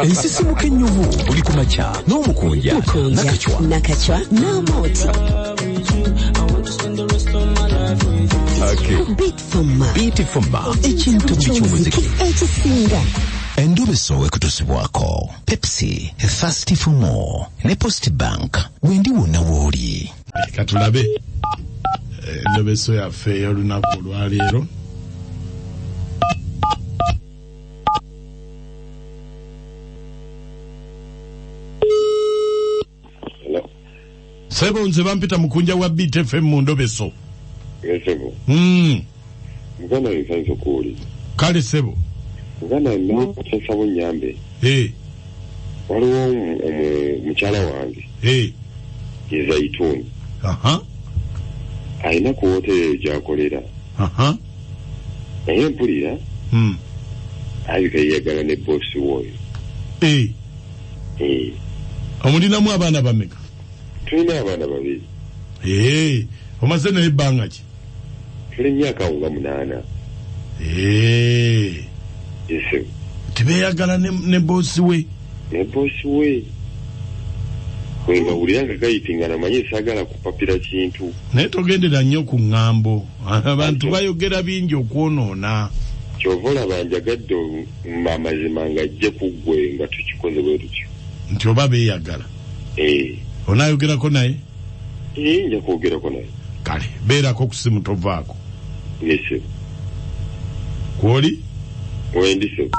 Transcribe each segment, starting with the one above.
ensisimuka ennyuvu buli ku makya n'omukunja nakacwa nakacwa n'amooti beatfoma ekintu buli ky'omuziki ekisinga endobeso wekutusibwako pepsi thirsty for more ne post bank wendi wonna wooli katulabe endobeso yaffe ey'olunaku olwaleero sebo nze bampita mukunja wa btfm mu ndobeso esebo mm. muganda yensanso kuuli kale sebo muganda nosasabo nyambe hey. waliwo mukyala wange hey. yezaituni uh -huh. alina ku woteeri gyakolera uh -huh. naye mpulira hmm. alabika yeyagala ne bosi woyo eh. eh. omulinamu abaana bameka tulina abaana babiri eh. omaze naye ebbanga ki tuli myaka awo nga munaana tibeyagala ne bosi we ne bosi we wengawulira nga gayitingana manye sagala kupapira kintu naye togendera nnyo ku ŋŋambo abantu bayogera bingi okwonoona kyova olaba njagadde amazima nga ajje kuggwe nga tukikoze bwe tutyo nti oba beeyagala eh. onaayogerako naye eh, nja kwogerako naye kale beerako ku simu tovaako nise kwoli wendi sebo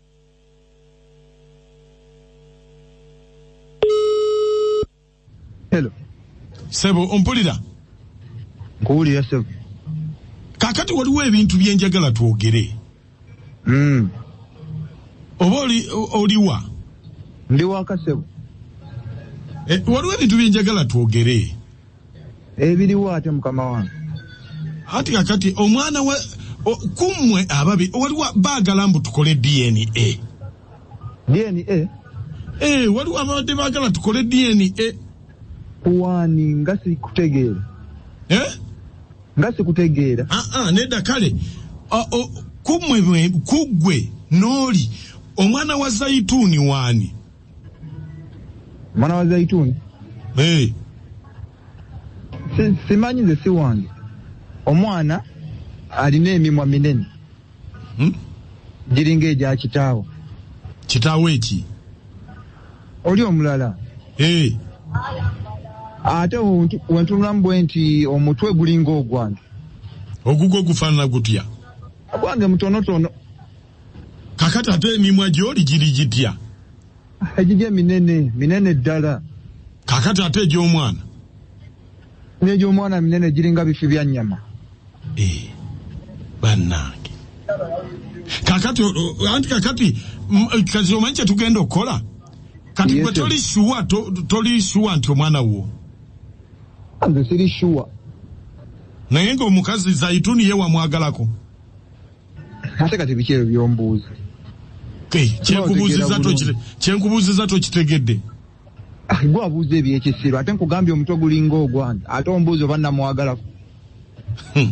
Hello. Sebo ompulira? Nkuwulira sebo. Kakati waliwo ebintu bye njagala twogere. Mm. Oba oli oliwa? Ndi waka sebo. Eh, waliwo ebintu bye njagala twogere. ebiriwo ate mukama wange ati kakati omwana wa kummwe ababi waliwo baagala mbu tukole dna dna ee eh, waliwo ababadde baagala tukole dna kuwaani nga sikutegeera eh? nga sikutegeera ah, ah, nedda kale kummwe kuggwe n'oli omwana wa zayituuni waani mwana wa zaituni hey. simanyi nze siwange omwana alina emimwa minene hmm? giringa egya kitaawo kitaawo eki oli omulala hey. ate wentunulamu bwe nti omutwe gulinga ogwange ogugwo gufaanana gutya ogwange mutonotono kakati ate emimwa gyoli giri gitya egigye minene minene ddala kakati ate egy'omwana negy'omwana minene giringa bifi bya nnyama eh, bannange kakati anti kakati kazi omanyi kyetugenda okukola kati gwe toli shuwa toli shuwa nti omwana wo nze siri shuwa naye ngaomukazi zaituni ye wamwagalako ate kati biki ebyo byombuuza kyenkubuuziza tokitegedde ah, gwe abuuza ebyekisiru ate nkugambye omutwe gulinga ogwange ate ombuuza oba namwagalako hmm.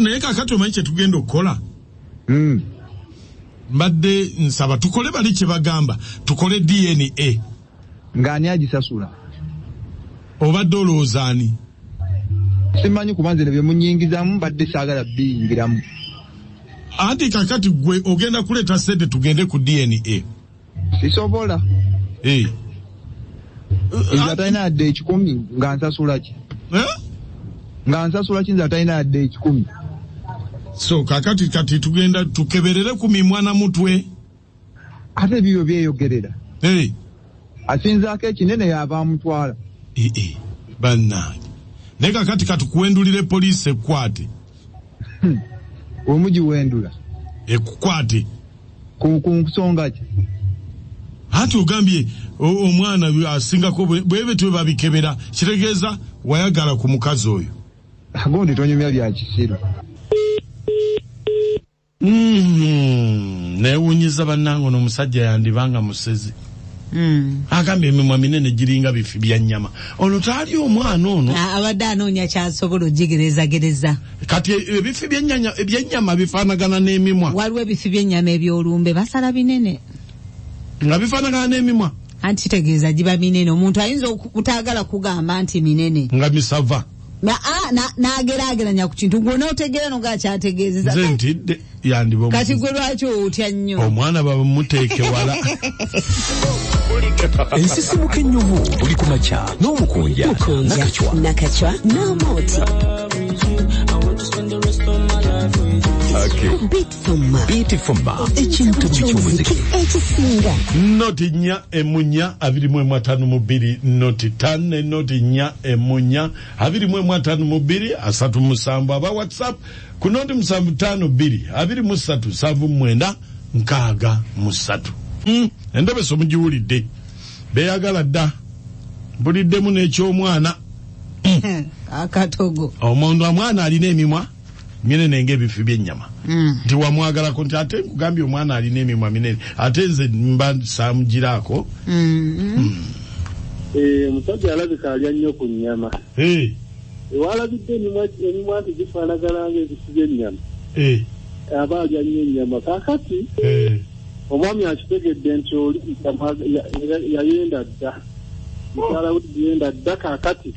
naye kakati omanyi kyetugenda okukola hmm. mbadde nsaba tukole bali kyebagamba tukole dna Nga ani agisasula? Obadde olowooza ani? Simanyi kuba nze nebye munyingizamu mbadde saagala biyingiramu. Anti kakati gwe ogenda kuleeta sente tugende ku DNA. Sisobola. Eh. Nze atalina yadde ekikumi nga nsasula ki? Eh? Nga nsasula ki nze atalina yadde ekikumi? So kakati kati tugenda tukeberere ku mimwa na mutwe. ate biyo byeyogerera hey. asinzaako ekinene yava amutwala hey, hey. bannange naye kakati katukuwendulire poliisi ekukwate hmm. omugiwendula ekukwate ku nsonga ki anti ogambye omwana asingako bwebe twe babikebera kitegeeza wayagala ku mukazi oyo agundi tonyumya byakisiru Mm-hmm. newunyiza banange ono omusajja yandiba nga musezi mm. agamba emimwa minene giringa bifi byanyama ono taali omwana ono ah, abadde anoonya kyasobola ogigerezagereza kati e, ebifi byenyama bifanagana n'emimwa waliwo ebifi byenyama ebyolumbe basala binene nga bifanagana n'emimwa anti kitegeeza giba minene omuntu ayinza okutagala kugamba nti minene nga misava nagerageranya ku kintu gwe notegeera no ngakyategeezeza nze ntidde yandiba kati gwe lwaki otya nnyo omwana bamuteeke wala ensisimuka ennyuvu buli ku makya n'omukunja nakacwa n'amooti Fumma. Biti Fumma. Ekintu ky'omuziki. Ekisinga. Noti nya emunya abiri mu atano mu bbiri noti tano noti nya emunya abiri mu atano mu bbiri asatu musanvu aba WhatsApp ku noti musanvu tano bbiri abiri mu ssatu nsanvu mwenda nkaaga mu ssatu. Mm, endobeso mugiwulidde beyagala dda buliddemu n'ekyomwana hmm. akatogo omuntu omwana alina emimwa minene ngaebifi byenyama mm. nti mm. wamwagalako nti ate nkugambye omwana alina emimwa minene ate nze mba samugiraako mm-hmm. mm. eh, omusajja mm. e, alabika alya nnyo ku nyama hey. Eh. ewalabidde emimwa nti gifaanagalanga ebifi byenyama hey. Eh. aba alya nnyo enyama kakati hey. omwami akitegedde nti oli yayenda dda mukyala we yayenda dda kakati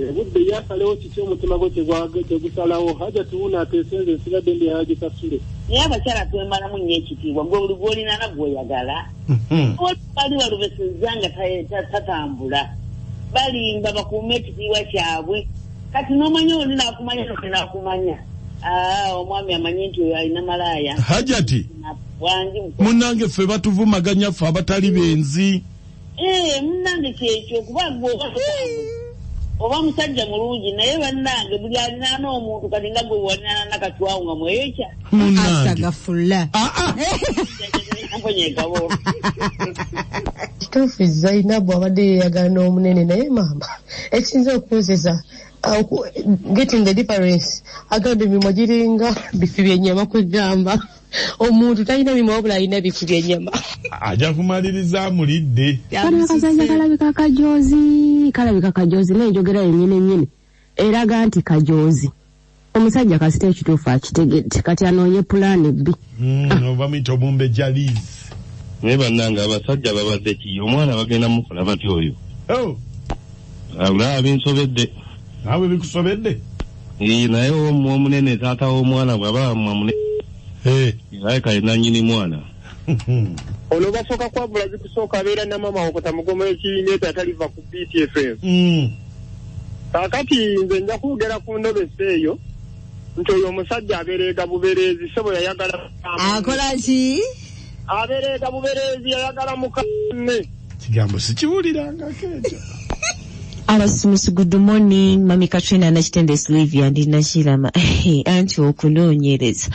obudde yasalewo kiki omutima gwe kyegusalawo haja tuwuna atesenze nsigadde ndi haji kasule naye abakyala twemalamu nyo ekitiibwa gwe buli gwolinana gwoyagala mhm. bali balubeseza nga tatambula balimba bakuuma ekitiibwa kyabwe kati nomanya oli nakumanya nakumanya ah, omwami amanyi nti oyo alina malaaya hajati munange ffe batuvumaganya ffe abatali benzi Eh, munange kyekyo kuba gwe oba musajja mulungi naye bannange buli alinaana omuntu kati nga gwe walinaana nakatwawo nga mweyokya astagafulla ah, ah. kituufu zainabu abadde yeyagala n'omunene naye maama ekiyinza okuwozesa getting the difference agamba emimwa giringa bifi byenyama kwegamba omuntu talina mimwa wabula alina ebifu byenyama aja kumaliriza amulidde kaliakazanya kalabika kajozi kalabika kajozi nenjogera yenyini nyini eraga nti kajozi omusajja kasita ekituufu akitegedde kati anoonye pulaani bbi hmm, ah. ova muyita omumbe jaliz naye bannange abasajja babadde ki omwana bagenda mukola batya oyo oh. Abulaba binsobedde. Naawe bikusobedde? Ee, naye omu omunene taata w'omwana bw'aba amune Eh, alabika ye nannyini mwana. Ono basooka kwavula zikusooka abeera na maama wakota mugomo ekiineta ataliva ku BTFM. mm, Kaakati nze nja kwogera ku ndobesa eyo nti oyo omusajja abereega bubereezi ssebo yayagala akola ki abereeta bubereezi yayagala mukaanne kigambo sikiwuliranga keejo abasumusi good morning mami katrina nakitende slivia ndi nakirama anti okunoonyereza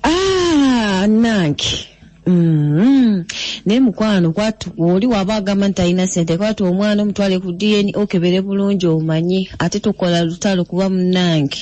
ah, nange Mm-hmm. naye mukwano kwatu oli waba agamba nti alina sente kwatu omwana omutwale ku dna okebere bulungi omanyi ate tokola lutalo kuba munange